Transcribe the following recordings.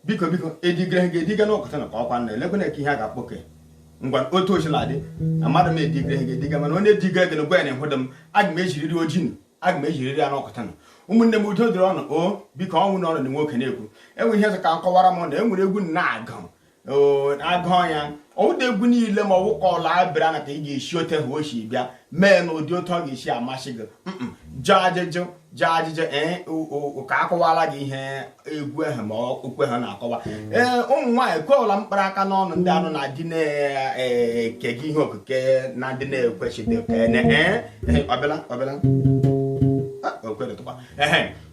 biko biko edigre ha ga-ediga n'ọkụta na ọkwa nna elekwe na ihe a ga-akpọke ngwa otu ochila dị na mmadụ m edigre ha ga-ediga mana onye diga gị na gwa ya na ịhụdụ m aga m ejiriri ojii aga m ejiriri ya n'ọkụta na ụmụnne m udo dịrị unu o biko ọ wụ na unu na nwoke na-ekwu enwere ihe sị ka m kọwara m na enwere egwu na-agụ agụọ ya ọ wụda egwu niile ma ọ wụ ka ọla abịara na ka ị ga-esi ote ha o si bịa mee na ụdị otu ọ ga-esi amasị gị jụọ ajụjụ jụọ ajụjụ ee ka akọwala gị ihe egwu ahụ ma ukwe ha na-akọwa mm. ee ụmụ nwaanyị kweọla mkpara aka n'ọnụ ndị anụ na-adị na-eke gị ihe okike na ndị na-ekwesịghị ọbịala ọbịala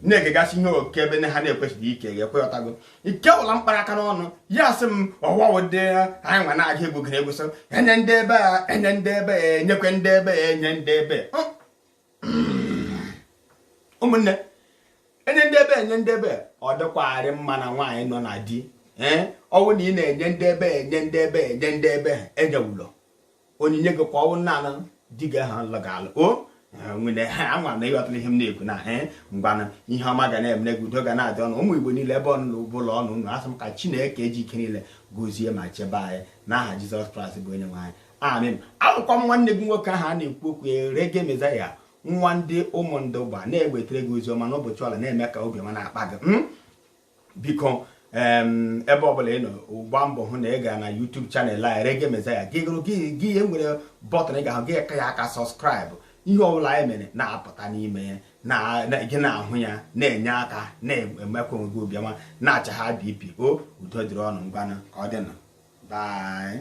na-ekegasị ihe oke ebe ha na-ekwesịghị ike ga-ekwekọtago ikewụla mkpara aka n'ọnụ ya sị m ọwawo ndị anyị nwa na-aga egwugere egwu so enye ndị ebe a enye ndị ebe a enyekwe ndị ebe a enye ndị ebe a ụmụnne enye ndị ebe enye ndị ebe ọ dịkwarị mma na nwaanyị nọ na di ee ọ wụ na ị na-enye ndị ebe enye ndị ebe enye ndị ebe enyewulo onyinye gị kwa ọ wụ naanị di gị ahụ lụ gị alụ o nwere ha anwa na ịghọtara ihe m na-ekwu na he ngwana ihe ọma ga na-emere gị udo ga na-adị unu ụmụ Igbo niile ebe ọbụla unu nọ asị m ka Chineke ji ike niile gozie ma chebe anyị n'aha Jesus Christ bụ onye nwe anyị amen awụkwa m nwanne gị nwoke ahụ a na-ekwu okwu erege mezaya nwa ndị Ụmụndụgba na-ewetara gị ozi ọma n'ụbọchị ọla na-eme ka obi ọma na-akpa gị hmm? biko ebe ọbụla ị nọ gbaa mbọ hụ na ị ga na YouTube channel a Rege Mezaya gị gụrụ gị ihe nwere button ị ga-ahụ gị ka ya aka subscribe ihe ọbụla anyị mere na-apụta n'ime ya gị na-ahụ ya na-enye aka na-emekwa onwe gị obiọma na-achụ high BP o udo dịrị unu ngwanụ ka ọ dịnụ bye